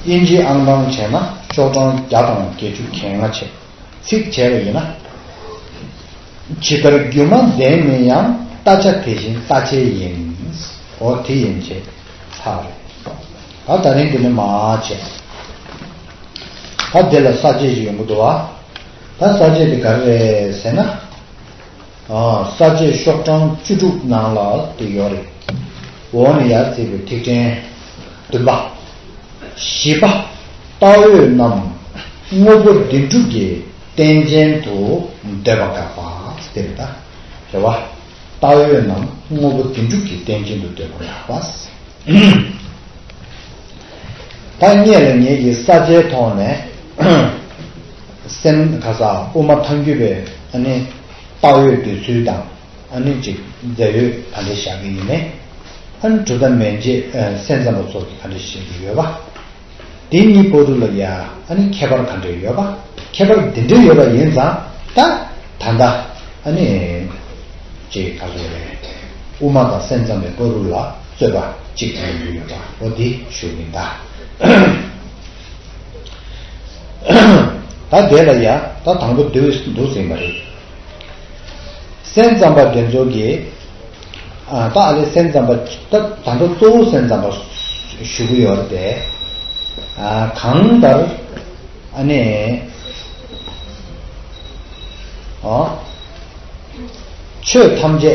དབྱིན་ཇི་ཨང་གྲངས་བྱས་ན་ཤོག་གྲངས་བརྒྱ་དང་བརྒྱད་ཅུ་གྱ་ལྔ་ཆེད་ཚིག་བྱས་པ་ཡིན་ན། ཇི་ལྟར་རྒྱུ་མ་ལྡན་མིན་ཡང་ལྟ་བྱ་དེ་བཞིན་ལྟ་བྱེད་ཡིན། འོ་དེ་ཡིན་བྱས་ཚར་རེད། ད་ད་རིང་དེ་ནི་མ་བྱས། ད་དེ་ལ་ས་བཅད་ཅིག་ཡོང་གི་འདུག་བ། ད་ས་བཅད་དེ་ག་རེ་རེད་ཟེར་ན། ས་བཅད་ཤོག་གྲངས་བཅུ་དྲུག་ནང་ལ་དེ་ཡོད་རེད། འོག་ནས་ཡར་བརྩིས་པའི་ཐིག་ཕྲེང། བདུན་པ། བཞི་པ། རྟགས་ཡོད་རྣམས། དངོས་པོ་འདི་འགྲུབ་ཀྱི་རྟེན་ཅན་དུ་འདོད་པ་དགག་པ། དེ་རེད་ད། རེ་བ། རྟགས་ཡོད་རྣམས་དངོས་པོ་འདི་འགྲུབ་ཀྱི་རྟེན་ཅན་དུ་འདོད་པ་དགག་པ། ཐ་སྙད་ལ་ངེས་ཀྱི་ས་བཅད་ཐོག་ནས། སེམས་ག་ས་དབུ་མ་མཐའ་འགྱུར་བའི་ཨ་ནི། དཔའ་བོའི་འདོད་ཚུལ་དང་ཨ་ནི་ཅིག་མཛད་ཡོད་ག་འདྲེ་བཞག་གི་ཡིན་ནེ། ཨ་ནི་གྲུ་ད་མན་རྗེ་སེན་ཙམ་པ་ཚོགས་ཀྱི་ག་འདྲེ་བཞེས་ཀྱི་ཡོད་པ། དེ་གཉིས་པོ་རུ་ལ་ཡ་ཨ་ནི་ཁྱད་པར་ག་འདྲེ་ཡོད་པ། ཁྱད་པར་འདི་འདྲེ་ཡོད་པ་ཡིན་ཙང་ད་ད་ད་ཨ་ནི་ཅིག་ག་ཚོགས་རེད། དབུ་མ་དང་སེན་ཙམ་པའི་པོ་རུ་ལ་རྩོད་པ་ཅིག་ཡོང་གི་ཡོད་པ་པོ་འདི་བཞུགས་གི་འདའ། ད་གེ་ལ་ཡ་ད་དང་པོ་འདུག་ཟིན་པ་རེད། སེམས་ཙམ་པ་རྒན་ཚོགས་ཀྱིས་ད་ཨ་ལས་སེམས་ཙམ་པ་ད་དང་པོ་གཙོ་བོ་སེམས་ཙམ་པ་ཞུ་གི་ཡོད་རེད་པས། གང་ལྟར་ཨ་ནས་ཆོས་ཐམས་ཅད་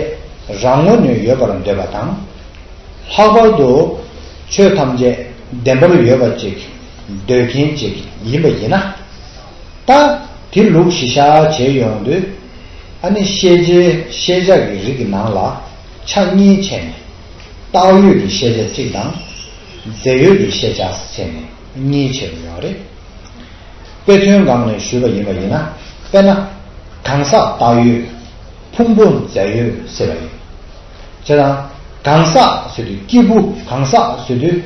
རང་ངོ་ནས་ཡོད་པར་འདོད་པ་དང། ལྷག་པར་དུ་ཆོས་ཐམས་ཅད་བདེན་པར་ཡོད་པ་ཅིག་འདོད་མཁན་ཅིག་ཡིན་པ་ཡིན་ན། ད་དེ་ལུགས་གཞི་བཞག་བྱེད་ཡོང་དུས། ཨ་ནི་ཤེས་བྱའི་ཤེས་བྱ་གི་རིགས་ཀྱི་ནང་ལ་ཆ་གཉིས་ཕྱེ་ནས། བཏགས་ཡོད་ཀྱི་ཤེས་བྱ་གཅིག་དང། རྫས་ཡོད་ཀྱི་ཤེས་བྱ་ཟེར་ནས་གཉིས་ཕྱེ་རུ་ཡོང་རེད། དཔེ་མཚོན་སྒང་ནས་ཞུས་པ་ཡིན་པ་ཡིན་ན་དཔེར་ན་གང་ཟག་བཏགས་ཡོད། ཕུང་པོ་རྫས་ཡོད་ཟེར་བ་ཡིན། ཁྱེད་རང་གང་ཟག་བཟོས་དུས་སྐྱེས་བུ་གང་ཟག་བཟོས་དུས།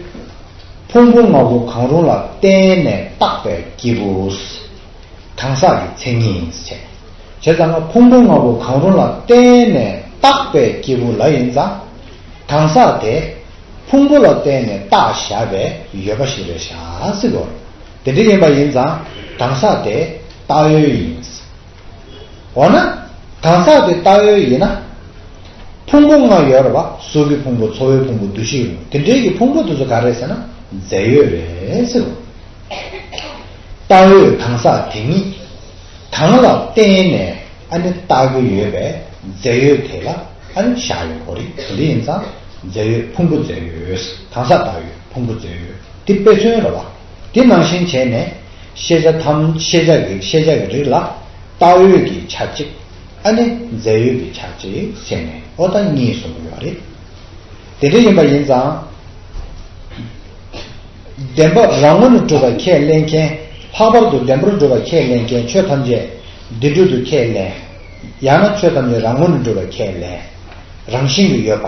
ཕུང་པོ་ལྔ་པོ་གང་རུང་ལ་བརྟེན་ནས་བཏགས་པའི་སྐྱེས་བུ། གང་ཟག་གི་མཚན་ཉིད། བྱས་ཙང་ང་ཕུང་པོ་ལྔ་པོ་གང་རུང་ལ་བརྟེན་ནས་བཏགས་པའི་སྐྱེས་བུ་ལ་ཡིན་ཙང། གང་ཟག་དེ། ཕུང་པོ་ལ་བརྟེན་ནས་བཏགས་བཞག་པའི་ཡོད་པ་ཞིག་རེད་ཤག་སི་གོ། དེ་འདྲ་ཡིན་པ་ཡིན་ཙང་གང་ཟག་དེ་བཏགས་ཡོད་ཡིན། འོ་ན། གང་ཟག་གི་བཏགས་ཡོད་ཡིན་ན། ཕུང་པོ་ལྔ་ཡོད་རེད་བ། གཟུགས་ཀྱི་ཕུང་པོ་ཚོར་བའི་ཕུང་པོ་འདུ་ཤེས་ཡོད་རེད་དེ་འདྲའི་ཀྱི་ཕུང་པོ་དེ་ཚོ་ག་རེད་ཟེར་ན་རྫས་ཡོད་རེད་ཟེར་རོ། བཏགས་ཡོད་གང་ཟག་དེ་ཉིད། གང་ལ་བརྟེན་ནས་ཨ་ནི་བཏགས་ཀྱི་ཡོད་པའི་རྫས་ཡོད་དེ་ལ་ཨ་ནི་བཞག་ཡོད་གོ་རེ་དེ་འདྲ་ཡིན་ཙང་རྫས་ཡོད་ཕུང་པོ་རྫས་ཡོད་གང་ཟག་བཏགས་ཡོད་ཕུང་པོ་རྫས་ཡོད་དེ་དཔེ་མཚོན་རེད་བ། དེ་ནང་བཞིན་བྱས་ནས། ཤེས་བྱ་ཐམས་ཤེས་བྱ་གི་ཤེས་བྱ་གི་རིགས་ལ། བལྟ་འོས་ཀྱི་ཆ་གཅིག། ཨ་ནི་མཛད་ཡུལ་གྱི་ཆ་གཅིག་བྱས་ནས་ཨོ་ད་གཉིས་གསུངས་ཀྱི་ཡོད་རེད། དེ་འདྲ་ཡིན་པ་ཡིན་ཙང། བདེན་པ་རང་ངོ་ནས་གྲུབ་པ་ཁས་ལེན་མཁན། ལྷག་པར་དུ་བདེན་པར་གྲུབ་པ་ཁས་ལེན་མཁན་ཆོས་ཐམས་ཅད་བདེ་གྲུབ་ཏུ་ཁས་ལེན། ཡང་ན་ཆོས་ཐམས་ཅད་རང་ངོ་ནས་གྲུབ་པ་ཁས་ལེན། རང་བཞིན་གྱིས་ཡོད་པ།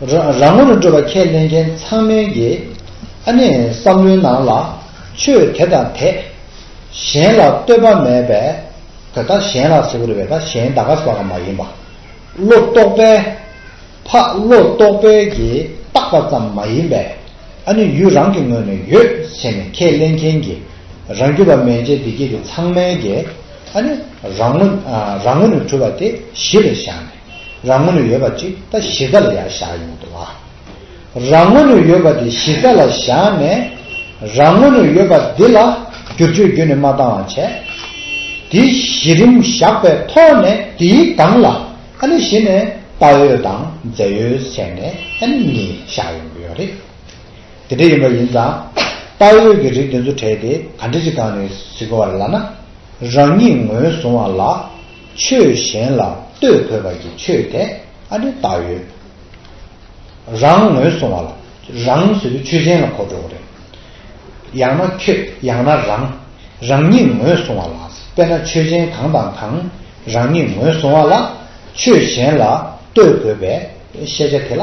རང་ངོ་རུ་སྤྲོད་པ་ཁས་ལེན་མཁན་ཚང་མའི་དགེ། ཨ་ནི་བསམ་བློའི་ནང་ལ་ཆོས་དེ་དང་དེ། གཞན་ལ་བསྟོད་པ་མེད་པའི་དོད་ད་གཞན་ལ་ཟེར་གི་རེད་བས་ད་གཞན་ད་ག་ཟ་ག་མ་ཡིན་པ། བློ་རྟོག་པས། ཕ་བློ་རྟོག་པས་ཀྱིས་བཏགས་པ་ཙམ་མ་ཡིན་པས། ཨ་ནི་ཡུལ་རང་གི་ངོས་ནས་ཡོད་བྱས་ནས་ཁས་ལེན་མཁན་དགེ། རང་རྒྱུད་པ་མན་ཆད་བདེ་སྐྱིད་ཀྱི་ཚང་མའི་དགེ། ཨ་ནི་རང་ངོ་རུ་འཁྲུལ་བ་དེ་གཞི་ལ་བཞག་ནས། རང་ངོ་ནས་ཡོད་པ་ཅིག་ད་གཞི་རྩ་ལ་ཡང་བཞག་ཡོང་གི་འདུག་བ། རང་ངོ་ནས་ཡོད་པ་དེ་གཞི་རྩ་ལ་བཞག་ནས་རང་ངོ་ནས་ཡོད་པ་འདི་ལ་བསྒྱུར་བཅོས་རྒྱུན་ནས་མ་བཏང་བ་བྱས། དེ་གཞི་རིམ་བཞག་པའི་ཐོག་ནས་དེའི་སྒང་ལ་ཨ་ནི་གཞི་ནས་དཔའ་ཡོད་དང་མཛེས་ཡོད་ཟེར་ནས་ཨ་ནི་གཉིས་བཞག་ཡོང་གི་ཡོད་རེད། དེ་འདྲ་ཡིན་པ་ཡིན་ཙང་དཔའ་ཡོད་ཀྱི་རིགས་དེ་ཚོ་བྲལ་ཏེ་ག་འདྲ་ཅིག་སྒང་ནས་གཟིགས་པ་རེད་ལ་ན་རང་ཉིད་ངོས་བཟུང་བ་ལ། ཆོས་གཞན་ལ་ལྟོས་ཕོད་པ་ཀྱི་ཆོས་དེ་ཨ་རི་དག་ཡོད། རང་ངོས་སོང་བ་ལ་རང་ཟེར་བའི་ཆོས་གཞན་ལ་གོ་འགྲོ་བ་རེད། ཡང་ན་ཁྱོད་ཡང་ན་རང་རང་ཉིད་ངོས་སོང་བ་ལ་དཔེར་ན་ཆོས་གཞན་གང་དང་གང་རང་ཉིད་ངོས་སོང་བ་ལ་ཆོས་གཞན་ལ་ལྟོས་ཕོད་པའི་ཤེས་བྱ་དེ་ལ་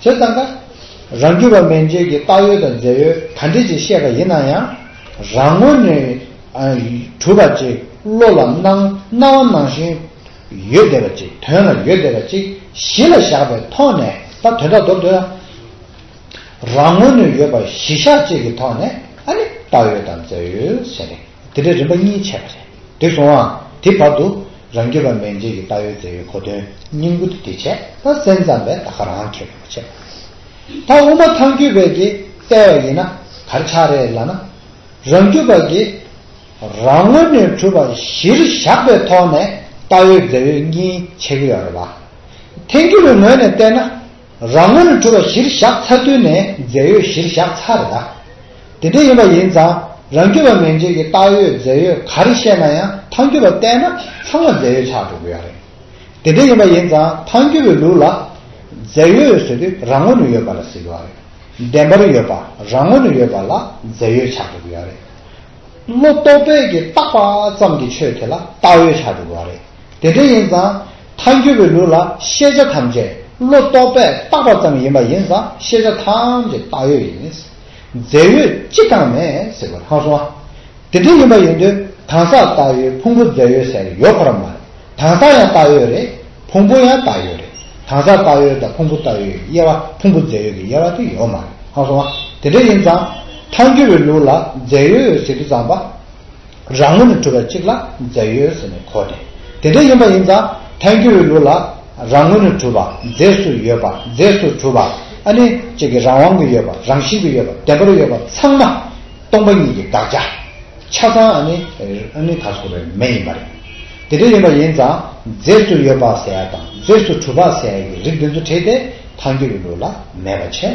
ཅེས་བརྩམས་པ། རང་རྒྱུད་པ་མན་ཆོད་ཀྱི་བཏགས་ཡོད་དང་མཛད་ཡོད་ག་འདྲི་ཅིག་བཤད་པ་ཡིན་ན་ཡང། རང་ངོ་ནས། གྲུབ་པ་ཅིག་བློ་ལ་སྣང་སྣ་བ་སྣང་བཞིན། ཡོད་བདེ་བ་ཅིག་དོན་ལ་ཡོད་བདེ་བ་ཅིག་གཞི་ལ་བཞག་པའི་ཐོག་ནས་ད་དོན་དག་མདོར་བསྡུ་ན། རང་ངོ་ནས་ཡོད་པ་གཞི་བཞག་ཅིག་གི་ཐོག་ནས་ཨ་ནི་བཏགས་ཡོད་དང་མཛད་ཡོད་ཟེར། དེ་འདྲའི་རིམ་པ་གཉིས་འཆད་པ་རེད། དེ་སོང་ཨང། དེའི་བར་དུ། རང་རྒྱུད་པ་མན་ཆད་ཀྱི་བཏགས་ཡོད་རྫས་ཡོད་གོ་དོན་སྙིང་པོ་དེ་དེ་འཆད་ད་སེམས་ཙམ་པས་ད་ག་རང་ཁེགས་པ་མ་འཆད། ད་དབུ་མ་ཐང་རྒྱུད་པས་ཀྱི་བལྟས་བ་ཡིན་ན་གར་ཆག་རེད་ལ་ན། རང་རྒྱུད་པ་ཀྱི། རང་ངོ་ནས་གྲུབ་པ་གཞིར་བཞག་པའི་ཐོག་ནས་བཏགས་ཡོད་རྫས་ཡོད་གཉིས་འཆད་ཀྱི་ཡོད་རེད་བ། ཐེང་རྒྱུད་པའི་ངོས་ནས་བལྟས་ན། རང་ངོས་ནས་གྲུབ་པ་གཞིར་བཞག་ཚར་དུས་ནས་རྫས་ཡོད་གཞིར་བཞག་ཚར་རེད་ད། དེ་འདྲ་ཡིན་པ་ཡིན་ཙང་རང་རྒྱུད་པ་མན་ཆད་ཀྱི་བཏགས་ཡོད་རྫས་ཡོད་ག་རེ་བཤད་ན་ཡང་ཐང་རྒྱུད་པ་བལྟས་ན་ཚང་མ་རྫས་ཡོད་ཆགས་འགྲོ་གི་ཡོད་རེད། དེ་འདྲ་ཡིན་པ་ཡིན་ཙང་ཐང་རྒྱུད་པའི་ལུགས་ལ། རྫས་ཡོད་ཟེར་དུས་རང་ངོས་ནས་ཡོད་པ་ལ་ཟེར་གི་ཡོད་རེད། བདེན་པར་ཡོད་པ་རང་ངོས་ནས་ཡོད་པ་ལ་རྫས་ཡོད་ཆགས་འགྲོ་གི་ཡོད་རེད། བློ་རྟོག་པས་ཀྱི་བཏགས་པ་ཙམ་གྱི་ཆོས་དེ་ལ་བཏགས་ཡོད་ཆགས་འགྲོ་གི་ཡོད་རེད། དེ་འདྲ་ཡིན་ཙང། མཐའ་འགྱུར་བའི་ལུགས་ལ་ཤེས་བྱ་ཐམས་ཅད་བློ་རྟོག་པས་བཏགས་པ་ཙམ་ཡིན་པ་ཡིན་ཙང་ཤེས་བྱ་ཐམས་ཅད་བཏགས་ཡོད་ཡིན། རྫས་ཡོད་ཅི་གང་མེད་ཟེར་བ་ཧང་སོང་ཨ། དེ་འདྲ་ཡིན་པ་ཡིན་དུས་གང་ཟག་བཏགས་ཡོད་ཕུང་པོ་རྫས་ཡོད་ཟེར་ཡོད་གོ་ར་མ་རེད། གང་ཟག་ཡང་བཏགས་ཡོད་རེད། ཕུང་པོ་ཡང་བཏགས་ཡོད་རེད། གང་ཟག་བཏགས་ཡོད་དང་ཕུང་པོ་བཏགས་ཡོད་ཀྱི་དབྱེ་བ་ཕུང་པོ་རྫས་ཡོད་ཀྱི་དབྱེ་བ་དེ་ཡོད་མ་རེད་ཧང་སོང་ཨ། དེ་འདྲ་ཡིན་ཙང། མཐའ་འགྱུར་བའི་ལུགས་ལ་རྫས་ཡོད་ཟེར་དུས་ཙམ་པ། རང་ངོས་ནས་གྲུབ་པ་གཅིག་ལ་རྫས་ཡོད་ཟེར་ནས་གོ་སྟེ། དེ་འདྲ་ཡིན་པ་ཡིན་ཙང་ཐལ་འགྱུར་བའི་ལུགས་ལ། རང་ངོས་ནས་གྲུབ་པ་རྫས་སུ་ཡོད་པ་རྫས་སུ་གྲུབ་པ་ཨ་ནི་གཅིག་གི་རང་དབང་གི་ཡོད་པ་རང་བཞིན་གྱི་ཡོད་པ་བདེན་པར་ཡོད་པ་ཚང་མ་སྟོང་པ་ཉིད་ཀྱི་དགག་བྱ། ཆ་ཚང་ཨ་ནི་ཨ་ནི་དག་གསུངས་པའི་མེ་ཡིན་པ་རེད། དེ་འདྲ་ཡིན་པ་ཡིན་ཙང་རྫས་སུ་ཡོད་པ་ཟེར་ཡ་དང་རྫས་སུ་གྲུབ་པ་ཟེར་ཡ་ཡི་རིགས་འདི་ཚོ་བྲིས་ཏེ་ཐལ་འགྱུར་བའི་ལུགས་ལ་མེད་པ་བྱས།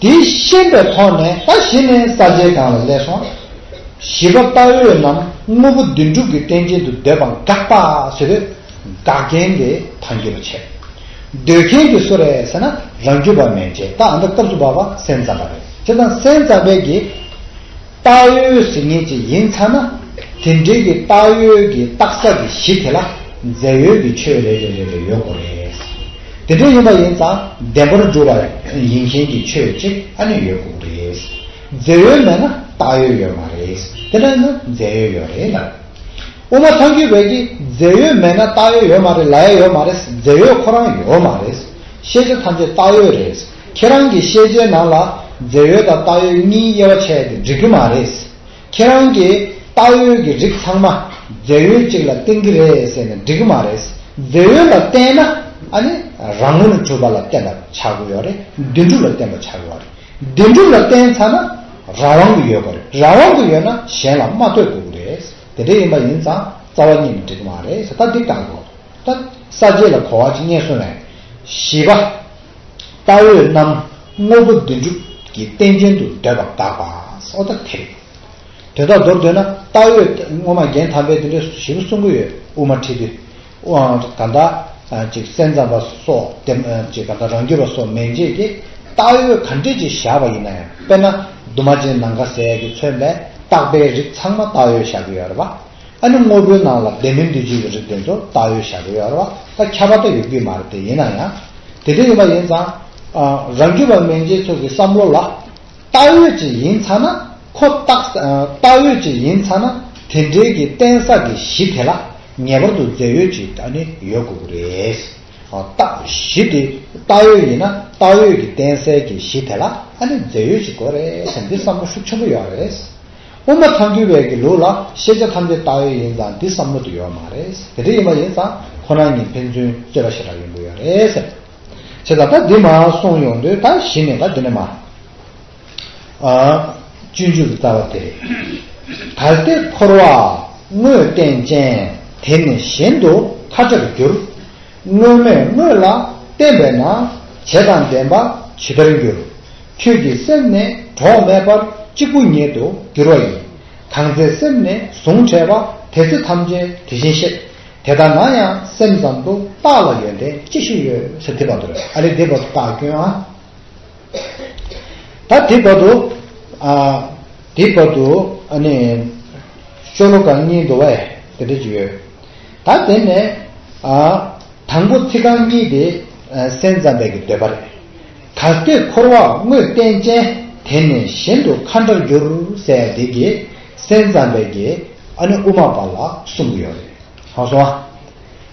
དེའི་ཤེས་པའི་ཐོག་ནས་ད་གཞི་ནས་ས་བཅད་གང་ལ་སླེབས་སོང། བཞི་པ་ལྟ་འོས་རྣམས་དངོས་པོ་བདུན་དྲུག་གི་རྟེན་ཅན་དུ་འདོད་པ་འགགས་པ་ཟེར་བས། འགག་མཁན་དེ་ད་འགྱུར་བ་ཆད། འདོད་མཁན་དེ་སུ་རེད་ཟེར་ན་རང་རྒྱུད་པ་མན་ཆད་ད་ཨ་མདོ་སྐབས་སུ་བབས་པ་སེམས་ཙམ་པ་རེད་ཅེས་དང་སེམས་ཙམ་པའི་གེགས་སྟག་ཡོལ་ཟེར་ངེས་ཅིག་ཡིན་ཚར་ན། དེ་འབྲེལ་གྱི་སྟག་ཡོལ་གྱི་བཏགས་ས་གི་གཞི་དེ་ལ་མཛེ་ཡོལ་གྱི་ཆོས་རེ་རེ་རེ་རེ་ཡོད་དགོས་རེད། དེ་འདྲ་ཡིན་པ་ཡིན་ཙང་བདེན་པར་སྒྲུབ་པ་ཡིན་མཁན་གྱི་ཆོས་གཅིག་ཨ་ནི་ཡོད་དགོས་རེད། མཛེ་ཡོལ་མེད་ན་སྟག་ཡོལ་ཡོད་མ་རེད། དེ་འདྲ་ཡིན་ན་མཛེ་ཡོལ་ཡོད་རེད་ལ། དབུ་མ་ཐང་རྒྱུད་བོད་ཀྱི་མཛེ་ཡོལ་མེད་ན་སྟག་ཡོལ་ཡོད་མ་རེད་ལ་ཡ་ཡོད་མ་རེད་མཛེ་ཡོལ་ཁོ་རང་ཡོད་མ་རེད། ཤེས་བྱ་ཐམས་ཅད་སྟག་ཡོལ་རེད། ཁྱེད་རང་གི་བཤད་བྱའི་ནང་ལ་རྫས་ཡོད་དང་བཏགས་ཡོད་གཉིས་དབྱེ་བ་ཕྱེ་དེ་འགྲིག་གི་མ་རེད། ཁྱེད་རང་གིས་བཏགས་ཡོད་ཀྱི་རིགས་ཚང་མ་རྫས་ཡོད་གཅིག་ལ་བརྟེན་གྱི་རེད་ཟེར་ནས་འགྲིག་གི་མ་རེད། རྫས་ཡོད་ལ་བརྟེན་ན་ཨ་ནི་རང་ངོ་ནས་གྲུབ་པ་ལ་བརྟེན་པ་ཆགས་དགོས་ཡོད་རེད། བདེན་གྲུབ་ལ་བརྟེན་པ་ཆགས་དགོས་རེད། བདེན་གྲུབ་ལ་བརྟེན་ཚར་ན་རང་དབང་གི་ཡོད་དགོས་རེད། རང་དབང་གི་ཡོད་ན་གཞན་ལ་མ་ལྟོས་དགོས་ཀྱི་རེད། དེ་འདྲ་ཡིན་པ་ཡིན་ཙང་རྩ་བ་གཉིས་ནི་འགྲིག་གི་མ་རེད། ད་འདི་ལྟ་བུ། ད་ས་སྐྱེས་ལ་གོ་བ་གཅིག་རྙེད་སོང་བས། བཞི་པ། ལྟ་འོས་རྣམས་དངོས་པོ་བདུན་ཅུ་ཀྱི་རྟེན་ཅན་དུ་འདོད་པར་གདགས་པ་སོགས་ཐ་དད་རིགས། དོན་དག་མདོར་བསྡུ་ན་ལྟ་འོས་དངོས་མ་རྒྱན་དམ་པའི་དེ་འདྲའི་བཞི་པོ་གསུངས་ཀྱི་ཡོད་དབུ་མ་ཁྲི་འདི་གང་དག་ཅིག་སེམས་ཙམ་པ་སོགས་དེ་ཅིག་གང་དག་རང་རྒྱུད་པ་སོགས་མན་ཆད་ཀྱི་ལྟ་འོས་གང་འདྲས་ཅིག་བཞག་པ་ཡིན་ན་ཡང་དཔེར་ན་དུ་མ་ཅན་ནང་ཁ་ཟས་ཀྱིས་མཚོན་པའི་བཏགས་པའི་རིགས་ཚང་མ་ལྟ་འོས་བཞག་གི་ཡོད་རེད་པ། ཨ་ནི་དངོས་པོའི་ནང་ལ་བདེན་མིན་འདུས་བྱས་ཀྱི་རིགས་དེ་ཚོ་བཏགས་ཡོད་བཞག་གི་ཡོད་རེད་བ་ད་ཁྱབ་པ་དེ་ཡོད་རྒྱུ་མ་རེད་དེ་ཡིན་ན་ཡང་དེ་འདྲ་ཡིན་པ་ཡིན་ཙང། རང་རྒྱུད་པ་མན་ཆད་ཚོ་གི་བསམ་བློ་ལ། བཏགས་ཡོད་ཅིག་ཡིན་ཚ་ན་ཁོ་བཏགས། བཏགས་ཡོད་ཅིག་ཡིན་ཚ་ན་དེ་འབྲེལ་གྱི་བརྟེན་ས་གི་གཞི་དེ་ལ་ངེས་པར་དུ་རྫས་ཡོད་ཅིག་ཨ་ནི་ཡོད་དགོས་ཀྱི་རེད། བཏགས་གཞི་དེ་བཏགས་ཡོད་ཡིན་ན་བཏགས་ཡོད་ཀྱི་བརྟེན་སའི་གི་གཞི་དེ་ལ་ཨ་ནི་རྫས་ཡོད་ཅིག་དགོས་རེད་འདི་བསམ་བློ་ཤུགས་ཆེན་པོ་ཡོད་རེད། དབུ་མ་ཐང་འདུལ་བའི་གི་ལུགས་ལ་ཤེས་བྱ་ཐམས་ཅད་བཏགས་ཡོད་ཡིན་ཙང་འདི་བསམ་བློ་དུ་ཡོད་མ་རེད། དེ་འདྲ་ཡིན་པ་ཡིན་ཙང་ཁོ་རང་ཉིད་ཕན་ཚུན་རྩོད་པ་ཞེ་དྲག་ཡོང་གི་ཡོད་རེད། བྱས་ཙང་ད་འདི་མ་གསུངས་ཡོང་དུས་ད་གཞི་ནས་ད་འདི་ནས་མ། སྤྱོད་འཇུག་གི་རྩ་བ་དེ་རེད། ད་སྟེ་འཁོར་བ་དངོས་བསྟན་ཅན་དེ་ནི་གཞན་དུ་ཁ་ཆག་ཏུ་འགྱུར། དངོས་མེད་དངོས་ལ་བརྟེན་པས་ན་བྱས་དང་བདེན་པ་ཇི་ལྟར་འགྱུར། ཁྱོད་ཀྱི་སེམས་ནི་གྲོགས་མེད་པར་གཅིག་པུ་ཉིད་དུ་འགྱུར་བ་ཡིན། གང་ཚེ་སེམས་ནི་གཟུངས་བྲལ་བ་དེ་ཚེ་ཐམས་ཅད་དེ་བཞིན་གཤེགས། དེ་ལྟ་ན་ཡང་སེམས་ཙམ་དུ་བརྟགས་ལ་ཡོན་ཏན་ཅི་ཞིག་ཡོད་ཟེར་དེ་བར་དུ་རེད་ཨ་རེད་དེ་བར་དུ་བརྟགས་སྐྱོན་ཨ། ད་དེ་བར་དུ་ཨ། དེ་བར་དུ་ཨ་ནི། ཤོ་ལོ་ཀ་གཉིས་འདུ་བ་ཨེ་དེ་འདྲ་ཅིག་ཡོད། ད་དེ་ནས་ཨ། དང་པོ་ཚིག་རྐང་གཉིས་དེ་སེམས་ཙམ་པའི་གི་འདོད་པ་རེད། དར་སྟེགས་འཁོར་བ་དངོས་བསྟན་ཅན། དེ་ནས་གཞན་དུ་མཁའ་འདྲར་བསྒྱུར། སའི་བདེ་དགེ་སེམས་ཙམ་པའི་དགེ། ཨ་ནི་དབུ་མ་པ་ལ་གསུམ་གྱི་ཡོད་རེད། ཧང་སང་ཨ།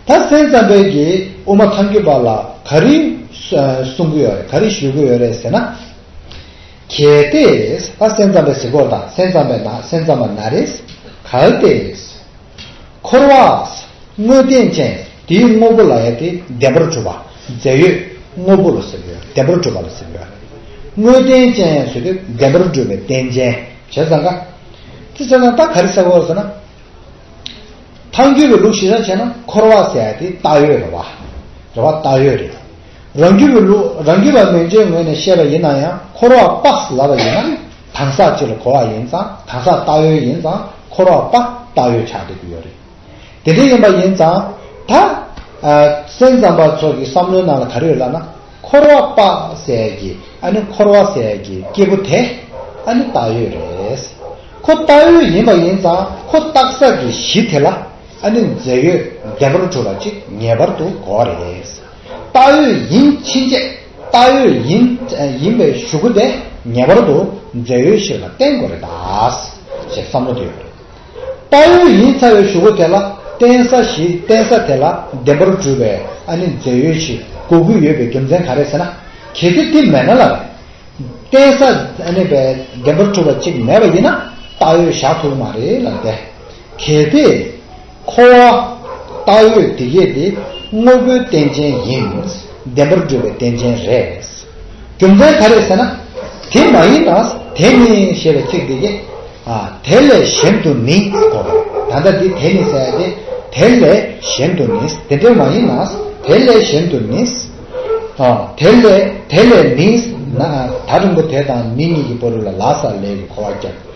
ད་སེམས་ཙམ་པའི་དགེ་དབུ་མ་ཐམས་ཀྱི་པ་ལ་ག་རེ། གསུང་གི་ཡོད་རེད་ག་རེ་ཞུ་གི་ཡོད་རེད་ཟེར་ན། གལ་ཏེ། ད་སེམས་ཙམ་པའི་གཟིགས་སྐོར་དང་སེམས་ཙམ་པའི་ན་སེམས་ཙམ་པ་ན་རེ། གལ་ཏེ། འཁོར་བ། དངོས་བསྟན་ཅན། དེའི་དངོས་པོ་ལ་ཡ་སྟེ་བདེན་པར་གྲུབ་པ། རྫས་ཡོད། དངོས་པོ་ལ་སེམས་ཡོད་བདེན་པར་གྲུབ་པ་ལ་སེམས་ཡོད། དངོས་བསྟན་ཅན་ཡང་ཟོས་ཏེ་བདེན་པར་གྲུབ་པའི་རྟེན་ཅན། བྱས་ཙང་ཀ། ཙི་ཙ་ན་ཏཱ་ག་རི་ས་གོ་ཟེར་ན། ཐང་རྒྱུད་པའི་ལུགས་ཤེས་ཙམ་བྱས་ན་འཁོར་བ་ཟེར་དེ་རྟགས་ཡོད་རེད་བ། རེད་བ་རྟགས་ཡོད་རེད། རང་རྒྱུད་པའི་ལུགས་རང་རྒྱུད་པ་མན་ཇའི་ངོས་ནས་བཤད་པ་ཡིན་ན་ཡང་འཁོར་བ་དཔགས་ལ་བ་ཡིན་ན། དང་ས་སྤྱི་ལ་གོ་བ་ཡིན་ཙང་དང་ས་བལྟ་ཡོད་ཡིན་ཙང་འཁོར་བ་པ་བལྟ་ཡོད་ཆགས་བསྡད་ཀྱི་ཡོད་རེད། དེ་འདྲ་ཡིན་པ་ཡིན་ཙང་ད། སེམས་ཙམ་པ་ཚོ་གི་བསམ་བློའི་ནང་ལ་ག་རེ་ཡོད་ལབ་ན་འཁོར་བ་པ་ཟས་ཀྱི་ཨ་ནི་འཁོར་བ་ཟས་ཀྱི་སྐྱེས་བུ་དེ་ཨ་ནི་བལྟ་ཡོད་རེད། ཁོ་བལྟ་ཡོད་ཡིན་པ་ཡིན་ཙང་ཁོ་བརྟག་ས་ཀྱི་གཞི་དེ་ལ་ཨ་ནི་མཛེས་ཡོད་བདེན་པར་གྲུབ་པ་ཅིག་ངེས་པར་དུ་གོ་བ་རེད། ལྟ་འོས་ཡིན་ཕྱིན་ཆད་ལྟ་འོས་ཡིན་ཡིན་པའི་ཞུ་སྒོ་དེ་ངེས་པར་དུ་མཛད་ཡོད་ཞིག་ལ་བརྟེན་དགོས་རེད་དཱ། ཞེས་བསམ་བློ་དེ་ཡོད་རེད། ལྟ་འོས་ཡིན་ཚར་བའི་ཞུ་སྒོ་དེ་ལ་བརྟེན་ས་ཞིག་བརྟེན་ས་དེ་ལ་བདེན་པར་གྲུབ་པའི་ཨ་ནི་མཛད་ཡོད་ཞིག་དགོས་ཀྱི་ཡོད་པའི་རྒྱུ་མཚན་ག་རེད་ཟེར་ན། གལ་ཏེ་དེ་མེད་ན་ལ་རེད། བརྟེན་ས་ཨ་ནི་བདེན་པར་གྲུབ་པ་གཅིག་མེད་པ་ཡིན་ན་ལྟ་འོས་བཞག་ཐུབ་ཀྱི་མ་རེད་ལ་འདས། གལ་ཏེ། འཁོར་བ། བཏགས་ཡོད་འདི་སྐད་དེ། དངོས་པོའི་རྟེན་ཅན་ཡིན། བདེན་པར་འགྲུབ་པའི་རྟེན་ཅན་རེད། རྒྱུ་མཚན་ག་རེད་ཟེར་ན། དེ་མ་ཡིན་ན་དེ་ནི་ཞེས་པའི་ཚིག་འདི་སྐད། དེ་ལས་གཞན་དུ་ནི་གོ། ད་ལྟ་འདི་དེ་ནི་ཟེར་ཏེ། དེ་ལས་གཞན་དུ་ནི། དེ་འདྲ་མ་ཡིན་ན། དེ་ལས་གཞན་དུ་ནི། དེ་ལས་ནི། ད་རིང་པོ་དེ་དང་ནི་གཉིས་ཀྱི་བར་ལ་ལ་ས་ལས་ཀྱི་འཁོར་བ་བརྒྱབ།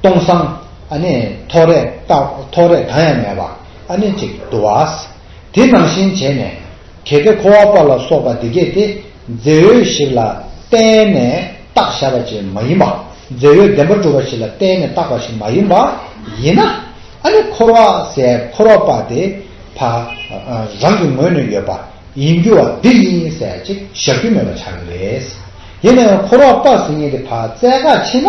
སྟོང་བསམ། ཨ་ནི། ཐོག་རེག་རྟགས་ཐོག་རེག་གང་ཡང་མེད་པ། ཨ་ནི་ཅིག་བསྡུ་བ། དེ་ནང་བཞིན་བྱས་ནས། གལ་ཏེ་འཁོར་བ་པ་ལ་སོགས་པ་འདི་སྐད་དེ། རྫས་ཡོད་ཞིག་ལ་བརྟེན་ནས་རྟགས་བཞག་པ་ཅིག་མ་ཡིན་པ། རྫས་ཡོད་བདེན་པར་གྲུབ་པ་ཞིག་ལ་བརྟེན་ནས་བཏགས་པ་ཞིག་མ་ཡིན་པ། ཡིན་ན། ཨ་ནི་འཁོར་བ་སའི་འཁོར་བ་པ་དེ། བ། རང་གི་ངོས་ནས་ཡོད་པ། ཡིན་རྒྱུ་བ་འདི་ཡིན་ཟེར་ཅིག་བཞག་རྒྱུ་མེད་པ་ཆགས་ཀྱི་རེད། ཡིན་ན་ཡང་འཁོར་བ་པ་ཟེར་མཁན་དེ་བ་རྩལ་ཁ་ཕྱེ་ན།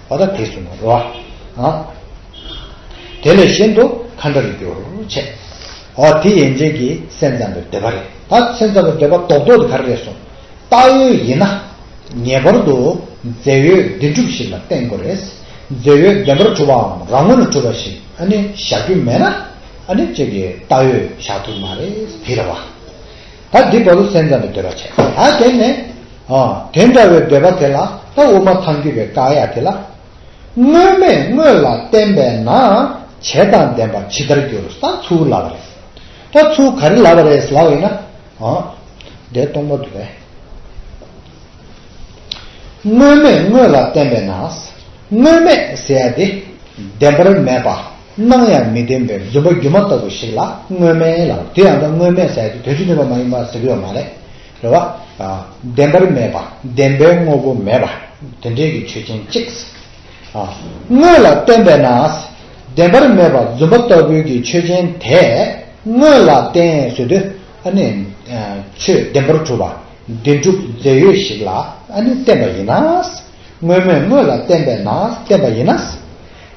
བ་དག་དེས་བསྲུང་བར་རོ། དེ་ལས་གཞན་དུ་མཁའ་འདྲ་རུ་གྱུར་བྱས། འོ་དེ་ཡན་ཆད་ཀྱི་སེམས་ཙམ་པའི་འདོད་པ་རེད། ད་སེམས་ཙམ་པའི་འདོད་པ་རྡོག་རྡོག་དེ་ག་རེ་རེད་གསུངས། བཏགས་ཡོད་ཡིན་ན། ངེས་པར་དུ་རྫས་ཡོད་བདེན་གྲུབ་ཞིག་ལ་བརྟེན་དགོས་རེད། རྫས་ཡོད་བདེན་པར་གྲུབ་པའམ་རང་ངོ་ནས་གྲུབ་པ་ཞིག་ཨ་ནི་བཞག་རྒྱུ་མེད་ན། ཨ་ནི་ཅིག་གིས་བཏགས་ཡོད་བཞག་ཐུབ་མ་རེད་བི་ར་བ། ད་འདི་བ་ལུ་སེན་ཙམ་པའི་འདོད་པ་བྱས། ད་དེ་ནས། དེ་འདྲ་བའི་འདོད་པ་དེ་ལ་ད་དབུ་མ་ཐང་རྒྱུ་བའི་བཀག་ཡ་དེ་ལ། དངོས་མེད་དངོས་ལ་བརྟེན་པས་ན། བྱེད་དང་ལྡན་པ་ཇི་ལྟར་འགྱུར་ས་ཚུལ་ལབ་པ་རེད། ད་ཚུལ་ག་རེ་ལབ་པ་རེད་ལབ་ཡིན་ན། འདས་སྟོང་པ་དུ་བས། དངོས་མེད་དངོས་ལ་བརྟེན་པས་ན། དངོས་མེད་ཟེར་ཡ་དེ་བདེན་པར་མེད་པ། སྣང་ཡང་མི་བདེན་པའི་རྫུན་པ་སྒྱུ་མ་ལྟ་བུ་ཞིག་ལ་དངོས་མེད་ལ་དེ་ཡང་དང་དངོས་མེད་ཟེར་དུས་དོན་སྤྱི་མཐུན་པ་མ་ཡིན་པ་ཟེར་གི་ཡོད་མ་རེད། རེད་བ། བདེན་པར་མེད་པ་བདེན་པའི་དངོས་པོ་མེད་པ་དེ་འདྲའི་གི་ཆོས་ཅན་གཅིག། དངོས་ལ་བརྟེན་པས་ན། བདེན་པར་མེད་པ་རྫུན་པ་ལྟ་བུའི་གི་ཆོས་ཅན་དེས་དངོས་ལ་བརྟེན་ཟོས་དུས་ཨ་ནི། ཆོས་བདེན་པར་གྲུབ་པ་བདེན་གྲུབ་རྫས་ཡོད་ཞིག་ལ་ཨ་ནི་བརྟེན་པ་ཡིན་ན། དངོས་མེད་དངོས་ལ་བརྟེན་པས་ན་བརྟེན་པ་ཡིན་ན།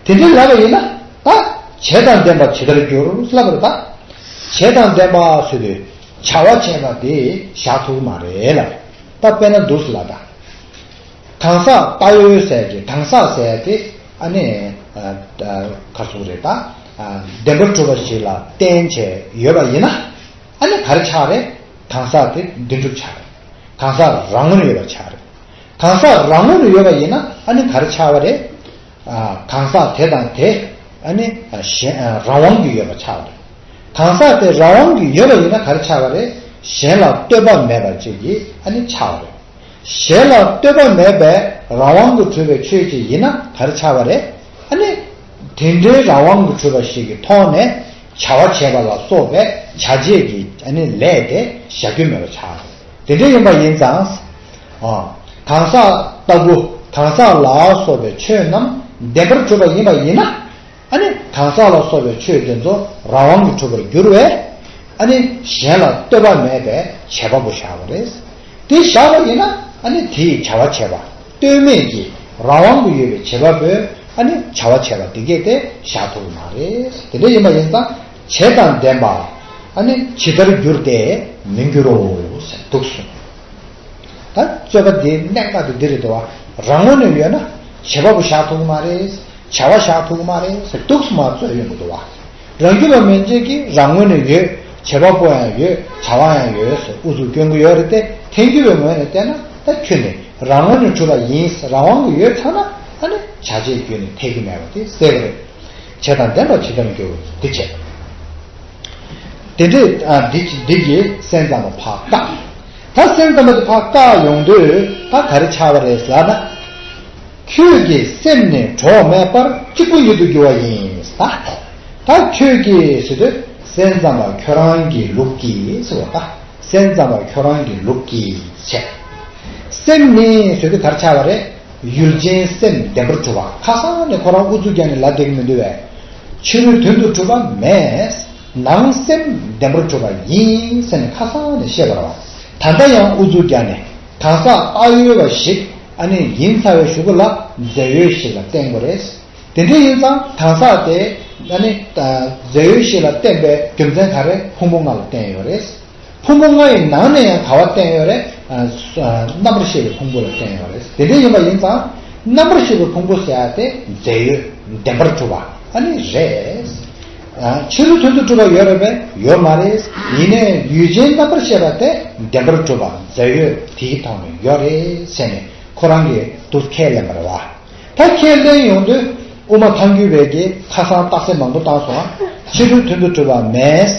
དེ་འདྲའི་ལགས་པ་ཡིན་ན་ད་བྱད་དང་ལྡན་པ་ཇི་ལྟར་འགྱུར་སླ་པོར་ད་བྱད་དང་ལྡན་པ་ཟོས་པའི་བྱ་བ་བྱས་པ་དེ་བཞག་ཐུག་མ་རེད་ལ་ད་དཔེ་ན་འདུག་ལ་ད་གང་ཟག་ད་ཡོད་ཟས་ཀྱི་གང་ཟག་ཟས་དེ་ཨ་ནི་གར་སོང་རེད་ད་བདེན་པར་གྲུབ་པ་ཞིག་ལ་བསྟན་བྱས་ཡོད་པ་ཡིན་ན་ཨ་ནི་གར་ཆགས་རེད་གང་ཟག་དེ་བདེན་གྲུབ་ཆགས་རེད་གང་ཟག་རང་ངོར་ཡོད་པ་ཆགས་རེད་གང་ཟག་རང་ངོར་ཡོད་པ་ཡིན་ན་ཨ་ནི་གར་ཆགས་པ་རེད། གང་ཟག་དེ་དང་དེ་གཞན་རང་དབང་གིས་ཡོད་པར་ཆགས་རེད། གང་ཟག་དེ་རང་དབང་གིས་ཡོད་པ་ཡིན་ན་ག་རེ་ཆགས་པ་རེད་གཞན་ལ་ལྟོས་པ་མེད་པར་བཅས་ཀྱིས་ཆགས་པ་རེད། གཞན་ལ་ལྟོས་པ་མེད་པའི་རང་དབང་གིས་གྲུབ་པའི་ཆོས་ཅིག་ཡིན་ན་ག་རེ་ཆགས་པ་རེད། དེ་འདྲའི་རང་དབང་གིས་གྲུབ་པ་ཞིག་གི་ཐོག་ནས་བྱ་བ་བྱེད་པ་ལ་སོགས་པའི་བྱ་བྱེད་ཀྱི་ལས་དེ་བྱ་རྒྱུ་མེད་པར་ཆགས་རེད། དེ་འདྲ་ཡིན་པ་ཡིན་ཙང། གང་ཟག་ལྟ་བུ་གང་ཟག་ལ་སོགས་པའི་ཆོས་རྣམས་བདེན་པར་གྲུབ་པ་ཡིན་པ་ཡིན་ན། ཨ་ནི་གང་ཟག་ལ་སོགས་པའི་ཆོས་དེ་ཚོ་རང་དབང་གིས་གྲུབ་པར་འགྱུར་བས། ཨ་ནི་གཞན་ལ་ལྟོས་པ་མེད་པའི་བྱེད་པ་པོ་བཞག་པ་རེད། དེ་བཞག་པ་ཡིན་ན་ཨ་ནི་དེའི་བྱ་བ་བྱེད་པ་ལྟོས་མེད་ཀྱི་རང་དབང་དུ་ཡོད་པའི་བྱེད་པ་པོས་ཨ་ནི་བྱ་བ་བྱས་པ་དེ་སྐད་དེ་བཞག་ཐུབ་པ་མ་རེད། དེ་འདྲ་ཡིན་པ་ཡིན་ཙང། བྱད་དང་ལྡན་པ་ནི་ཇི་ལྟར་འགྱུར་ཏེ་མི་འགྱུར་རོ། དུག་གསུམ་ད་རྩོད་པ་འདི་གནད་འགག་ཏུ་འདི་རེད་དོ། རང་ངོ་ནས་ཡོད་ན་བྱེད་པ་པོ་བཞག་ཐུག་མ་རེད། བྱ་བ་བཞག་ཐུག་མ་རེད། དུག་གསུམ་མ་རྩོད་ཡོང་གི་འདུག་བ། རང་རྒྱུད་པ་མན་ཆད་ཀྱིས་རང་ངོ་ནས་ཡོད་བྱེད་པ་པོ་ཡང་ཡོད་བྱ་བ་ཡང་ཡོད་ཟེར་ཨུ་ཚུགས་སྐྱོན་གྱི་ཡོད་རེད་དེ་ཐལ་འགྱུར་བའི་ངོས་ནས་བལྟས་ན་ད་ཁྱོད་ནི་རང་ངོ་ནས་གྲུབ་པ་ཡིན་རང་དབང་གི་ཡོད་ཚང་ན་ཨ་ནི་བྱ་བྱེད་རྒྱུད་ནས་ཐལ་གྱི་མེད་པ་དེ་གསལ་པོ་རེད། བྱས་དང་ལྡན་པ་ཇི་ལྟར་འགྱུར། འདི་བྱས། དེ་འདྲས་འདི་འདི་ཀྱི་སེམས་ཙམ་པ་བག་ཀ། ད་སེམས་ཙམ་པ་འདི་བག་ཀ་ཡོང་དུས་ད་ག་རེ་ཆགས་པ་རེད་ལགས་ན། ཁྱོད་ཀྱི་སེམས་ནི་གྲོགས་མེད་པར་གཅིག་པུ་ཉིད་དུ་གྱུར་བ་ཡིན་ལ། ད་ཁྱོད་ཀྱིས་ཟེར་དུས་སེམས་ཙམ་པ་ཁྱོད་རང་གི་ལུགས་ཀྱིས་ཟེར་བ་ད་སེམས་ཙམ་པ་ཁྱོད་རང་གི་ལུགས་ཀྱིས་བྱས། སེམས་ནི་ཟེར་དུས་ག་རེ་ཆགས་པ་རེད། ཡུལ་ཅན་སེམས་བདེ་པར་གྲུབ་པ་ཁ་སང་ནས་ཁོ་རང་དབུ་གཙུག་བརྒྱབ་ནས་ལ་བསྡད་མི་འདུག་བས། ཕྱི་རོལ་དོན་དུ་གྲུབ་པ་མེད། ནང་སེམས་བདེ་པར་གྲུབ་པ་ཡིན་ཟེར་ནས་ཁ་སང་ནས་བཤད་པར་བ། ད་ལྟ་ཡང་དབུ་གཙུག་བརྒྱབ་ནས་གང་ཟག་ཨ་ཡོད་པ་ཞིག་ཨ་ནེ་ཡིན་ཚར་བའི་ཞུ་གུ་ལ་མཛེ་ཡོས་ཞིག་ལ་བསྟན་དགོས་རེད། དེ་འདྲ་ཡིན་ཙང་གང་ཟག་དེ་ཨ་ནེ་མཛེ་ཡོས་ཞིག་ལ་བསྟན་པའི་རྒྱུ་མཚན་ག་རེ་ཕུང་པོ་ང་ལ་བསྟན་ཡོད་རེད། ཕུང་པོ་ལྔ་ཡི་ནང་ནས་ཡང་དག་བ་བསྟན་ཡོད་རེད། རྣམ་པར་ཤེས་པའི་ཕུང་པོ་ལ་བསྟན་ཡོད་རེད། དེ་འདྲ་ཡིན་པ་ཡིན་ཙང། རྣམ་པར་ཤེས་པའི་ཕུང་པོ་ཟེར་བ་དེ་རྫས་ཡོད་བདེན་པར་གྲུབ་པ་ཨ་ནི་རེད། ཕྱི་རོལ་དོན་དུ་གྲུབ་པ་ཡོད་རེད་པས་ཡོད་མ་རེད། ཡིན་ནས་ཡུལ་ཅན་རྣམ་པར་ཤེས་པ་དེ་བདེན་པར་གྲུབ་པ་རྫས་ཡོད་དེའི་ཐོག་ནས་ཡོད་རེད་ཟེར་ནས་ཁོ་རང་གིས་དུ་ཁས་ལེན་པར་བ། ད་ཁས་ལེན་ཡོང་དུས་དབུ་མ་ཐང་རྒྱུད་བེད་ཀྱིས་ཁ་སང་རྟགས་གསལ་མང་པོ་བཏང་སོང་ཨ། ཕྱི་རོལ་དོན་དུ་གྲུབ་པ་མེད།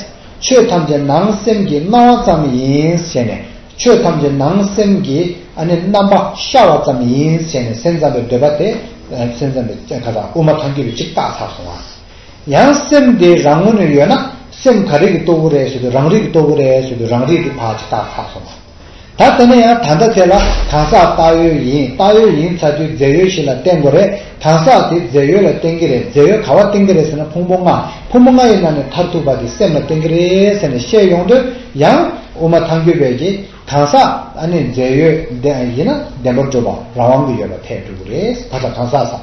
ཆོས་ཐམས་ཅད་ནང་སེམས་ཀྱི་སྣང་བ་ཙམ་ཡིན་ཟེར་ནས་ཆོས་ཐམས་ཅད་ནང་སེམས་ཀྱི་རྣམ་པ་ཤར་བ་ཙམ་ཡིན་ཟེར་ནས་སེམས་ཙམ་པའི་འདོད་པ་དེ་སེམས་ཙམ་པའི་དབུ་མ་ཐམས་ཅད་ཀྱི་གཅིག་བཏགས་ཚར་སོང་བ། ཡང་སེམས་དེ་རང་ངོ་ནས་ཡོད་ན་སེམས་ག་རིགས་ཀྱི་སྟོབས་བུ་རེད་ཟེར་དུས་རང་རིགས་ཀྱི་སྟོབས་བུ་རེད་ཟེར་དུས་རང་རིགས་ཀྱི་བག་ཅིག་བཏགས་ཚར་སོང་བ། ད་དེ་ནས་ཡང་ད་ལྟ་དེ་ལ་གང་ཟག་བཏགས་ཡོད་ཡིན་བཏགས་ཡོད་ཡིན་ཚ་དུས་རྫས་ཡོད་ཞིག་ལ་བརྟེན་དགོས་རེད་གང་ཟག་དེ་རྫས་ཡོད་ལ་བརྟེན་གྱི་རེད་རྫས་ཡོད་ག་བ་བརྟེན་གྱི་རེད་ཟེར་ན་ཕུང་པོ་ལྔ་ཕུང་པོ་ལྔ་ཡི་ནང་ནས་མཐར་ཐུག་པ་དེ་སེམས་ལ་བརྟེན་གྱི་རེད་ཟེར་ནས་བཤད་ཡོང་དུས་ཡང། དབུ་མ་ཐང་རྒྱུད་པས་ཀྱི་གང་ཟག་ཨ་ནི་རྫས་ཡོད་ཡིན་ན་བདེན་པར་སྒྲུབ་པ་རང་དབང་གི་ཡོད་པ་ཐལ་སྒྲུབ་རེད་ད་ལྟ་གང་ཟག་ཟ།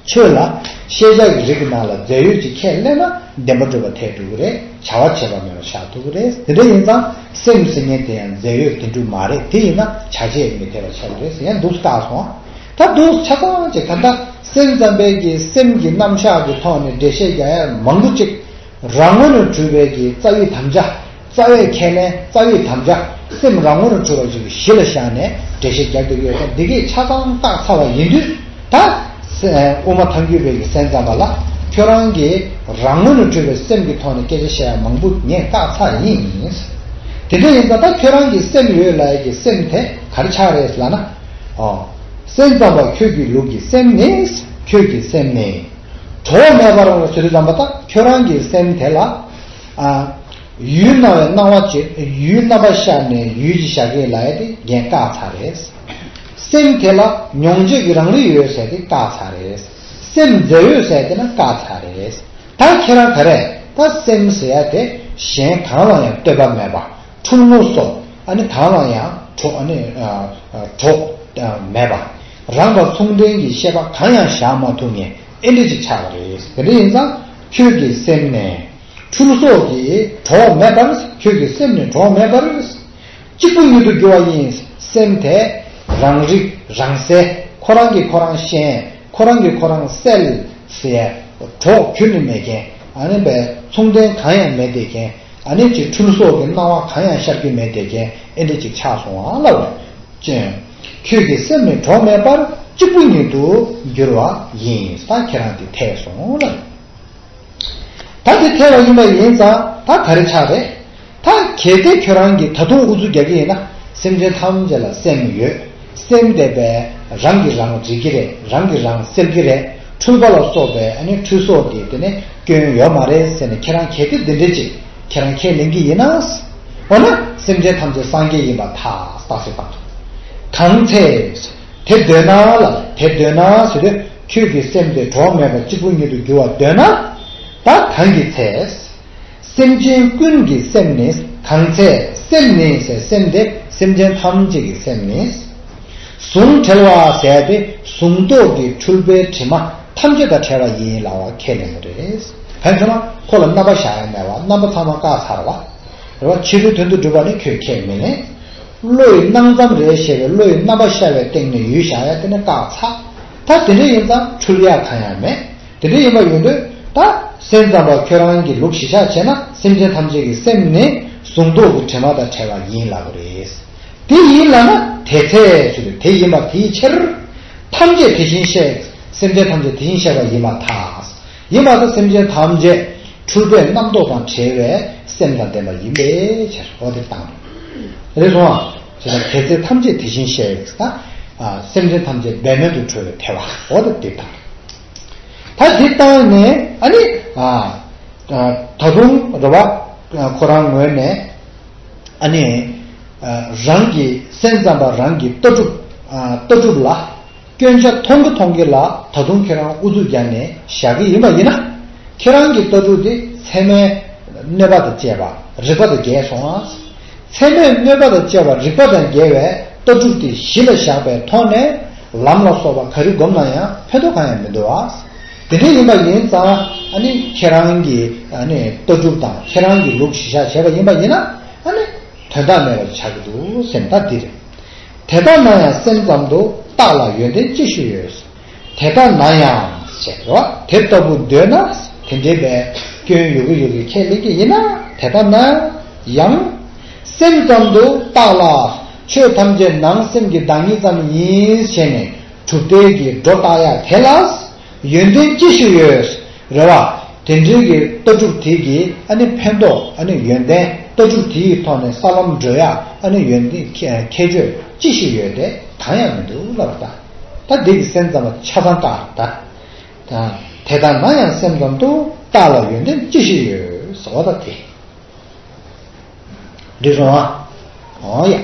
ཆོས་ལ། ཤེས་བྱ་ཡི་རིགས་ཀྱི་ནང་ལ་རྫས་ཡོད་ཀྱི་ཁས་བླངས་ན་བདེན་པ་སྒྲུབ་པར་ཐལ་འགྲོ་གི་རེད་བྱ་བ་བྱས་པ་མེད་པར་བཞག་ཐུབ་ཀྱི་རེད་དེ་འདྲ་ཡིན་ཙང་སེམས་ཀྱི་སེམས་ངན་དེ་ཡང་རྫས་ཡོད་དེ་འགྲུབ་མ་རེད་དེ་ཡིན་ན་བྱ་བྱེད་མི་འཐད་པར་ཆགས་ཀྱི་རེད་ཟེར་ཡང་སྡུག་རྟགས་སོང་ད་སྡུག་ཆ་ཚང་ཅིག་ད་ལྟ་སེམས་ཙམ་པས་ཀྱི་སེམས་ཀྱི་རྣམ་གཞག་གི་ཐོག་ནས་འགྲེལ་བཤད་རྒྱ་ཡ་མང་པོ་ཅིག་རང་ངོ་ནས་གྲུབ་པས་ཀྱི་རྩ་བའི་དམ་བཅའ། རྩ་བའི་ཁས་ལེན་རྩ་བའི་དམ་བཅའ་སེམས་རང་ངོར་འཁྲུལ་བ་ཅིག་གཞི་ལ་བཞག་ནས་འགྲེལ་བཤད་རྒྱག་གི་ཡོད་ཀྱང་འདི་གའི་ཆ་ཚང་བརྟག་ཚར་བ་ཡིན་དུས་ད་དབུ་མ་ཐང་རྒྱུད་བོད་ཀྱི་སེམས་ཙམ་པ་ལ་ཁྱོད་རང་གིས་རང་ངོ་ནས་འཁྲུལ་བའི་སེམས་ཀྱི་ཐོག་ནས་སྐད་ཆ་བཤད་ཡ་མང་པོ་ངས་བཀག་ཚར་ཡིན། དེ་འདྲ་ཡིན་ཙང་ད་ཁྱོད་རང་གིས་སེམས་ཡོད་ལ་ཡག་གི་སེམས་དེ་གར་ཆགས་རེད་ལབ་ན། ཨོ། སེམས་ཙམ་པ་ཁྱོད་ཀྱི་ལུགས་ཀྱི་སེམས་ནི་ཁྱོད་ཀྱི་སེམས་ནི། གྲོགས་མེད་པར་ཟུར་ཙམ་པ་ད་ཁྱོད་རང་གི་སེམས་དེ་ལ། ཡུལ་སྣང་བའི་སྣང་བ་བརྗོད། ཡུལ་རྣམ་པར་ཤར་ནས་ཡུལ་གྱི་ཞག་གེ་ལ་ཡ་དེ་རྒྱན་བཀག་ཚར་རེད། སེམས་དེ་ལ་མྱོང་བྱེད་ཀྱི་རང་རིག་ཡོད་ཟེར་ཏེ་བཀག་ཚར་རེད། སེམས་རྫས་ཡོད་ཟེར་ཏེ་ན་བཀག་ཚར་རེད། ད་ཁྱེད་རང་ག་རེ་ད་སེམས་ཟེར་ཡ་དེ་གཞན་གང་ལ་ཡང་ལྟོས་པ་མེད་པ་འཁྲུག་ངོ་སོ་ཨ་ནི་གང་ལ་ཡང་གྲོགས་ཨ་ནི་གྲོགས་མེད་པ་རང་དང་མཚུངས་ལྡན་གྱི་ཤེས་པ་གང་ཡང་བཞག་མ་ཐུབ་ངེས། ཨེ་འགྲིག་ཅིག་ཆགས་པ་རེད། དེ་འདྲ་ཡིན་ཙང་ཁྱོད་ཀྱི་སེམས་ནས། ཕྲུ་གུ་སོགས་ཀྱི་གྲོགས་མེད་པར། ཁྱོད་ཀྱི་སེམས་ནས་གྲོགས་མེད་པར། གཅིག་པུ་ཉིད་དུ་གྱུར་བ་ཡིན། སེམས་དེ་རང་རིག་རང་གསལ། ཁོ་རང་གིས་ཁོ་རང་ཤེས། ཁོ་རང་གིས་ཁོ་རང་གསལ། གྲོགས་ཁྱོད་ནི་མེད་རྐྱེན། ཨཱ་ནི། མཚུངས་ལྡན་གང་ཡང་མེད་བསྡད་རྐྱེན། ཨཱ་ནི། ཕྲུ་གུ་སོགས་ཀྱི་སྣང་བ་གང་ཡང་ཤར་རྒྱུ་མེད་བསྡད་རྐྱེན་ཨེ་འགྲིག་ཅིག་ཆགས་སོང་ང་ལ་བར། ཅན། ཁྱོད་ཀྱི་སེམས་ནི་གྲོགས་མེད་པར་གཅིག་པུ་ཉིད་དུ་འགྱུར་བ་ཡིན་ས་ཁྱེད་རང་དེ་ཐལ་སོང་ལ། ད་དེ་ཐལ་བ་ཡིན་པ་ཡིན་ཙང་ད་ག་རེ་ཆགས་རེད། ད་གལ་ཏེ་ཁྱོད་རང་གིས་ད་དུང་ཨུ་ཚུགས་རྒྱག་གི་ཡིན་ན་སེམས་ཅན་ཐམས་ཅད་ལ་སེམས་ཡོད་སེམས་བདེ་བས་རང་གིས་རང་འབྲི་གི་རེད་རང་གིས་རང་སེལ་གི་རེད་འཁྲུལ་པ་ལ་སོགས་པའི་འཁྲུལ་སོ་དེ་དེ་ནས་སྐྱོན་ཡོད་མ་རེད་ཟེར་ནས་ཁྱེད་རང་གལ་ཏེ་འདི་འདྲའི་ཅིག་ཁྱེད་རང་ཁས་ལེན་གྱི་ཡིན་ན། འོ་ན་སེམས་ཅན་ཐམས་ཅད་སངས་རྒྱས་ཡིན་པ་ཐག་ཐག་གསལ་བཏང་ཐུབ། གང་ཚེ། དེ་འདོད་ན་ལ་དེ་འདོད་ན་ཟེར་དུས་ཁྱོད་ཀྱི་སེམས་དེ་གྲོགས་མེད་པ་གཅིག་པུ་ཉིད་དུ་འགྱུར་བར་འདོད་ན། ད་གང་གི་ཚེ། སེམས་ཅན་ཀུན་གྱི་སེམས་ནི་གང་ཚེ་སེམས་ནི་སེམས་དེ་སེམས་ཅན་ཐམས་ཅད་ཀྱི་སེམས་ནི། གཟུངས་བྲལ་བ་ཟད་པས་གཟུངས་རྟོག་གི་འཁྲུལ་པའི་དྲི་མ་ཐམས་ཅད་དང་བྲལ་བ་ཡིན་ལ་བ་ཁས་ལེན་པ་རེད། བན་ཆུང་མ། ཁོ་ལ་རྣམ་པ་བཞག་ཡ་མེད་བ་རྣམ་པ་ཚང་མ་བཀག་ཚར་བ། རེད་བ། ཕྱི་རོལ་དོན་དུ་སྒྲུབ་པ་ནི་ཁྱོད་ཁས་མི་ལེན། བློ་ཡི་སྣང་ཙམ་རེད་ཞེས་པའི་བློ་ཡི་རྣམ་པ་ཤར་བའི་སྟེང་ནས་ཡུལ་བཞག་ཡ་དེ་ནི་བཀག་ཚ། ད་དེ་འདྲ་ཡིན་ཙང་འཁྲུལ་ཡ་གང་ཡང་མེད། དེ་འདྲ་ཡིན་པ་ཡོད་འདོད་ད། སེམས་ཙམ་པ་ཁྱོད་རང་གིས་ལུགས་གཞི་ཆགས་བྱས་ན་སེམས་ཅན་ཐམས་ཅད་ཀྱི་སེམས་ནི་གཟུངས་རྟོག་གི་དྲི་མ་དང་བྲལ་བ་ཡིན་ལ་བ་རེད། དེ་ཡིན་ལ་ན་དེ་ཚེ་ཞེས་པའི་དེ་ཡིན་པ་དེའི་ཕྱིར། ཐམས་ཅད་དེ་བཞིན་གཤེགས་སེམས་ཅན་ཐམས་ཅད་དེ་བཞིན་གཤེགས་པ་ཡིན་པ་དག། ཡིན་པ་དག་སེམས་ཅན་ཐམས་ཅད་འཁྲུལ་པའི་རྣམ་རྟོག་དང་བྲལ་བའི་སེམས་དང་ལྡན་པ་ཡིན་པའི་ཕྱིར་རོ། དེ་དང། རེ་ཟུང་ང། ཞེས་པ་དེ་ཚེ་ཐམས་ཅད་དེ་བཞིན་གཤེགས་ན། སེམས་ཅན་ཐམས་ཅད་འབད་མེད་དུ་གྲོལ་བའི་ཐལ་བ་འོ། དེ་དང། ད་དེ་ལྟ་ནས་ཨཱ་ནི། ད་དུང་རེ་བ། ཁོ་རང་ངོས་ནས། ཨ་ནི། རང་གི་སེམས་ཙམ་པ་རང་གི་ལྟ་གྲུབ། ལྟ་གྲུབ་ལ། སྐྱོན་ཆ་མཐོང་གི་མཐོང་གི་ལ་ད་དུང་ཁྱེད་རང་ཨུ་ཚུགས་རྒྱག་ནས་བཞག་གི་ཡིན་པ་ཡིན་ན། ཁྱེད་རང་གི་ལྟ་གྲུབ་དེ་ཚད་མས་གནོད་པ་དང་བཅས་པ་རིག་པ་དང་འགལ་སོང་ཨ། ཚད་མས་གནོད་པ་དང་བཅས་པ་རིག་པ་དང་འགལ་བའི་ལྟ་གྲུབ་དེ་གཞི་ལ་བཞག་པའི་ཐོག་ནས་ལམ་ལ་སོགས་པ་ག་རེ་བསྒོམ་ན་ཡང་ཕན་ཐོགས་གང་ཡང་མི་འདུག་ཨ། དེ་འདྲ་ཡིན་པ་ཡིན་ཙང་ཁྱེད་རང་གི་ལྟ་གྲུབ་དང་ཁྱེད་རང་གི་ལུགས་གཞི་བཞག་བྱས་པ་ཡིན་པ་ཡིན་ན། དོན་དག་མེད་པར་ཆགས་ཀྱི་འདུག་སེམས་ཐག་འདི་རེད། དེ་ལྟར་ན་ཡང་སེམས་ཙམ་དུ་བརྟགས་ལ་ཡོན་ཏན་ཅི་ཞིག་ཡོད། དེ་ལྟར་ན་ཡང། དེ་ལྟ་བུ་འདོད་ན་དེ་འདྲེས་པའི་སྐྱོན་ཡོད་ཀྱི་ཡོད་ཀྱི་ཁས་ལེན་གྱི་ཡིན་ན་དེ་ལྟར་ན་ཡང། སེམས་ཙམ་དུ་བརྟགས་ལ་ཆོས་ཐམས་ཅད་ནང་སེམས་ཀྱི་བདག་ཉིད་ཙམ་ཡིན་ཞེས་ནས་གྲུབ་རྟེན་གྱི་སྒྲོ་བཏགས་ཡ་དེ་ལ་ཡོན་ཏན་ཅི་ཞིག་ཡོད་རེད་བ། དེ་འབྲེལ་གྱི་ལྟ་གྲུབ་དེ་གྱིས་ཨ་ནི་ཕན་ཐོག་ཨ་ནི་ཡོན་ཏན་ལྟ་གྲུབ་དེ་ཡི་ཐོག་ནས་ས་ལམ་བགྲོད་ཡ་ཨ་ནི་ཡོན་ཏན་ཁྱད་ཆོས་ཅི་ཞིག་ཡོད་དེ་གང་ཡང་མི་འདུག་ལབ་ད་ད་དེ་གི་སེམས་ཙམ་པ་ཆ་ཚང་བཏགས་རེད་ད། དེ་ད་ན་ཡང་སེམས་ཙམ་དུ་བཏགས་ལ་ཡོན་ཏན་ཅི་ཞིག་ཡོད་ཟེར་བ་ད་དེ་འགྲིག་སོང་ཨང་ཡ།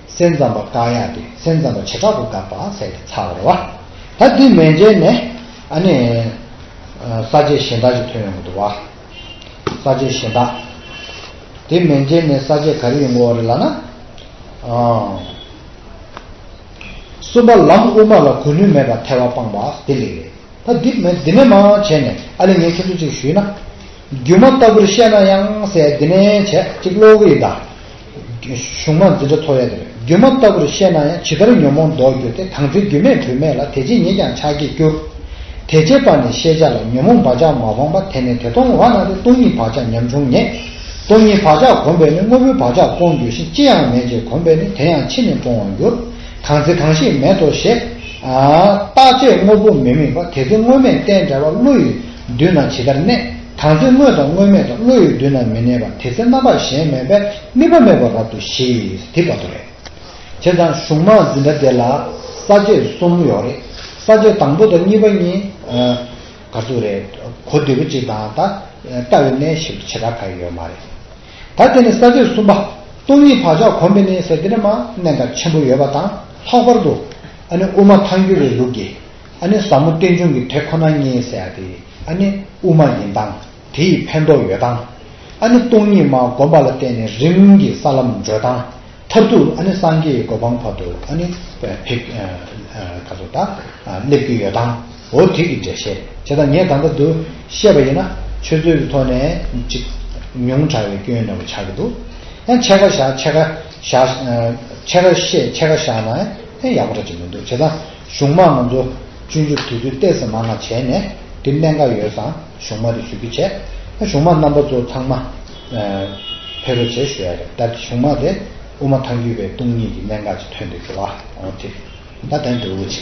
སེམས་ཙམ་པ་བཀག་ཡག་སྟེ་སེམས་ཙམ་པ་བྱེ་བྲག་ཏུ་བཀག་པ་ཟད་པའི་ཚ་བ་རེད་བ། ད་འདི་མན་འཇལ་ནས་ཨ་ནི། ས་བཅད་གཞན་དག་ཅིག་ཐོན་ཡོང་གི་འདུག་བ། ས་བཅད་གཞན་དག། འདི་མན་འཇལ་ནས་ས་བཅད་ག་རེ་ཡོང་གི་འོ་རེད་ལགས་ན། ཨོ། གསུམ་པ་ལམ་དབུ་མ་ལ་གོ་ནུས་མེད་པར་ཐལ་བ་སྤངས་པ་འདི་ལེགས་རེད། ད་འདི་མན་འདི་ནས་མ་བྱས་ནས་ཨ་ལེ་ངས་ཁྱེད་ཚོ་ཅིག་ཞུས་ན། སྒྱུ་མ་ལྟ་བུར་བཤད་ན་ཡང་ཟད་འདི་ནས་བྱས་ཅིག་ཀློག་གི་ཡིན་ད། གཞུང་མ་འཛིན་དྲ་ཐོག་ཡ་དེར་རྒྱུ་མ་ལྟ་བུར་བཤད་ན་ཡང་ཇི་ལྟར་ཉོན་མོངས་ལྡོག་གྱུར་ཏེ་དང་ཚེ་རྒྱུ་མེད་དྲོད་མེད་ལ་དེ་ཇི་སྙེད་ཀྱང་ཆགས་སྐྱེས་སྐྱུར། དེ་བྱེད་པ་ནི་ཤེས་བྱ་ལ་ཉོན་མོངས་བག་ཆགས་མ་སྤངས་པ་དེ་ནི་དེ་སྟོང་བ་ན་སྟེ་སྟོང་ཉིད་བག་ཆགས་ཉམ་ཆུང་ངེས། སྟོང་ཉིད་བག་ཆགས་གོམས་པས་ནི་དངོས་པོའི་བག་ཆགས་སྤོང་འགྱུར་ཞིང་ཅི་ཡང་མེད་ཅེས་གོམས་པས་ནི་དེ་ཡང་ཕྱིས་ནི་སྤོང་བར་འགྱུར། གང་ཚེ་གང་ཞིག་མེད་དོ་ཞེས། རྟག་ཆད་དངོས་པོ་མི་དམིགས་པ་དེ་ཚེ་དངོས་མེད་རྟེན་བྲལ་བ་བློ་ཡི་མདུན་ན་ཇི་ལྟར་གནས། དང་ཚེ་དངོས་དང་དངོས་མེད་དང་བློ་ཡི་མདུན་ན་མི་གནས་པ་དེ་ཚེ་རྣམ་པ་གཞན་མེད་པས་དམིགས་པ་མེད་པར་རབ་ཏུ་ཞིག་དེ་བར་དོ་རེད། བྱས་ཙང་གཞུང་མང་འཛིན་གྲྭ་དེ་ལ་ས་བཅད་གསུམ་ཡོད་རེད། ས་བཅད་དང་པོ་དང་གཉིས་པ་གཉིས། ག་ཚུགས་རེད། གོ་བདེ་པོ་གཅིག་དང་ད་ལྟ་བའི་གནས་ཞིག་ཏུ་བྱེ་བྲག་ག་ཡོད་མ་རེད། ད་དེ་ནི་ས་བཅད་གསུམ་པ། སྟོང་ཉིད་བག་ཆགས་གོམས་པས་ནི་ཟེར་དེ་ནི་མ་གནས་འགའ་ཆེན་པོ་ཡོད་པ་དང་ལྷག་པར་དུ། ཨ་ནི་དབུ་མ་ཐང་རྒྱུད་པའི་ལུགས་ཀྱིས། ཨ་ནི་ཟབ་མོ་རྟེན་འབྱུང་གི་དེ་ཁོ་ན་ཉིད་ཟེར་ཡ་དེ། ཨ་ནི་དབུ་མ་ཡིན་དང་དེ་ཡི་ཕན་འདོགས་ཡོད་དང། ཨ་ནི་སྟོང་ཉིད་མ་བསྒོམ་པ་ལ་བརྟེན་ནས་རིམ་གྱིས་ས་ལམ་བགྲོད་དང། མཐར་ཐུག་ཨ་ནི་སངས་རྒྱས་ཀྱི་གོ་འཕང་བར་དུ་ཨ་ནི་སླེབས་ཀྱི་ཡོད་དང། འོ་དེ་གི་འགྲེལ་བཤད་བྱེད་དང་ངས་ད་ལྟ་འདུ་ཤེས་པ་ཡིན་ན་ཆོས་ཚུལ་གྱི་ཐོག་ནས་ཅིག་ཉུང་དྲགས་པའི་སྐྱོན་ནོར་བུ་ཆགས་ཀྱི་འདུག་ཡང་ཕྱེད་ཀ་བཞག་ཕྱེད་ཀ་བཞག་ཕྱེད་ཀ་བཤད་ཕྱེད་ཀ་བཞག་ན་ཡང་ཡག་པོ་འདྲ་ཅིག་མི་འདུག་བྱས་ཙང། གཞུང་མང་ང་ཚོ་བཅུ་མཇུག་དེ་ཚོའི་ལྟས་ཟེར་མ་ང་བྱས་ནས་དེ་གནད་འགག་ཡོད་སང་གཞུང་མ་རེ་ཞུ་རྒྱུ་བྱས་ཨ་གཞུང་མ་རྣམ་པ་ཚོ་ཚང་མ་ཕེ་རོ་བྱས་ཞུ་ཡ་རེད་ད་དེ་གཞུང་མ་དེ་དབུ་མ་ཐང་རྒྱུད་པའི་སྟོང་ཉིད་ཀྱི་གནད་འགག་ཅིག་ཐོན་འདུག་གི་བ་འོ་དེ་ད་དེང་དུ་འུ་ཅི།